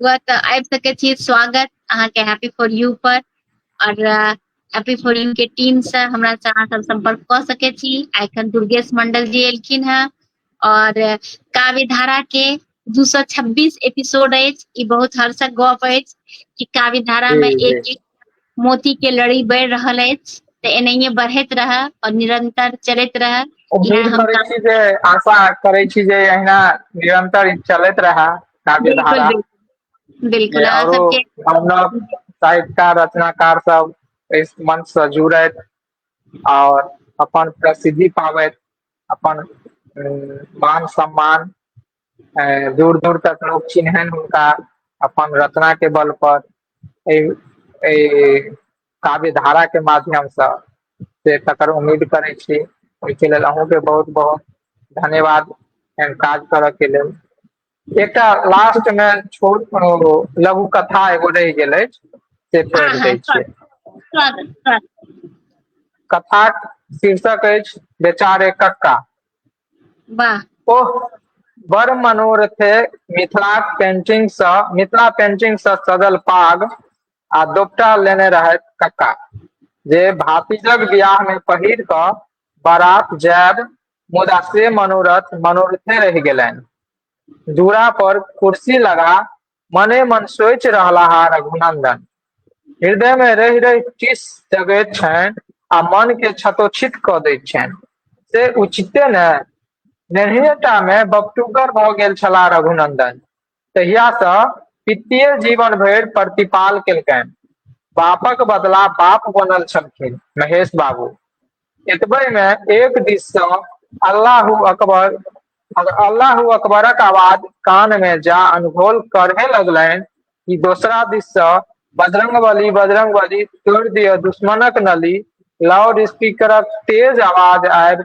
हुआ तऽ आबि सकै छी स्वागत अहाँके हैप्पी फॉर यू पर और अ, एपी फोरिन के टीम से हमरा से अहाँ सब संपर्क कऽ सकै छी आ एखन दुर्गेश मंडल जी एलखिन हेँ और काव्य धारा के दू सौ छब्बीस एपिसोड अछि ई बहुत हर्षक गप अछि कि काव्य धारा में जी, एक एक मोती के लड़ी बढ़ि रहल अछि तऽ एनाहिए बढ़ैत रहए और निरंतर चलैत रहए उम्मीद इएह हम करै छी
जे
आशा
करै छी जे अहिना निरंतर ई चलैत रहा काव्य बिल्कुल धारा बिल्कुल बिल्कुल
अहाँ सबके
साहित्यकार रचनाकार सब इस मंच से जुड़त और अपन प्रसिद्धि पाबत अपन मान सम्मान दूर दूर तक लोग चिन्हन हुनका अपन रचना के बल पर काव्य धारा के माध्यम से से तकर उम्मीद करे छी ओहिके लेल अहूँके बहुत बहुत धन्यवाद एहन काज करऽ के लेल एकटा लास्ट मे छोट लघु कथा एगो रहि गेल अछि से हँ पढ़ि हँ दै छियै
स्वागत स्वागत कथाक
शीर्षक अछि बेचारे कक्का
वाह ओह
बड़ मनोरथे मिथिलाक पेंटिंग सँ मिथिला पेंटिंग सँ सजल पाग आ दोपटा लेने रहैथ कक्का जे भातिजक बियाह मे पहिर कऽ बारात जायब मुदा से मनोरथ मनोरथे रहि गेलनि दूरा पर कुर्सी लगा मने मन सोचि रहलाहा रघुनंदन हृदय में रहि रहि टिस जगैत छनि आ मन के क्षतोक्षित क दैत छनि से उचिते ने नेहिएटा में बपटुगर भऽ गेल छलाह रघुनंदन तहियासँ पितिये जीवन भरि प्रतिपाल केलकनि बापक बदला बाप बनल छलखिन महेश बाबू एतबे मे एक दिस से अल्लाह अकबर अल्लाह अकबरक आवाज कान में जा अनघोल करहे लगलनि कि दोसरा दिस से बजरंग बली बजरंग बली तोड़ दिय दुश्मनक नली लाउड स्पीकरक तेज आवाज आबि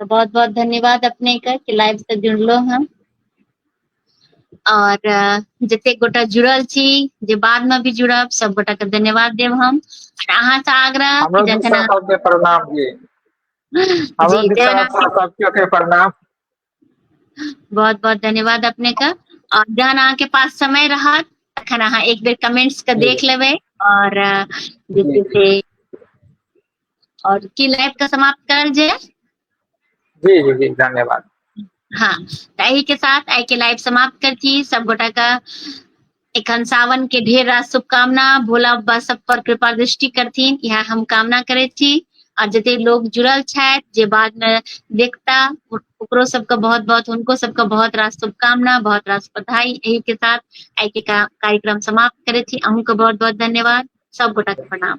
तो बहुत बहुत धन्यवाद अपने के कि लाइव से जुड़लो हम और जते गोटा जुड़ल छी जे बाद में भी जुड़ब सब गोटा के धन्यवाद देव हम और अहाँ से आग्रह कि जखन अहाँ-
प्रणाम जी हमरो
जी, दिशा
प्रणाम। से सबके के प्रणाम
बहुत बहुत धन्यवाद अपने का और जहन अहाँ के पास समय रहत तखन अहाँ एक बेर कमेंट्स के देख लेबै और
अ,
जे छै से और की लाइव के समाप्त करल जे जी जी
जी धन्यवाद हाँ
ताही के साथ आई के लाइव समाप्त कर थी सब गोटा का एखन सावन के ढेर रात शुभकामना भोला बाबा सब पर कृपा दृष्टि करथिन यह हम कामना करे छी और जते लोग जुड़ल छथि जे बाद में देखता ओकरो सबके बहुत बहुत उनको सबके बहुत रास शुभकामना बहुत रास बधाई यही के साथ आई के कार्यक्रम समाप्त करे छी अहूँ के बहुत बहुत धन्यवाद सब गोटा के प्रणाम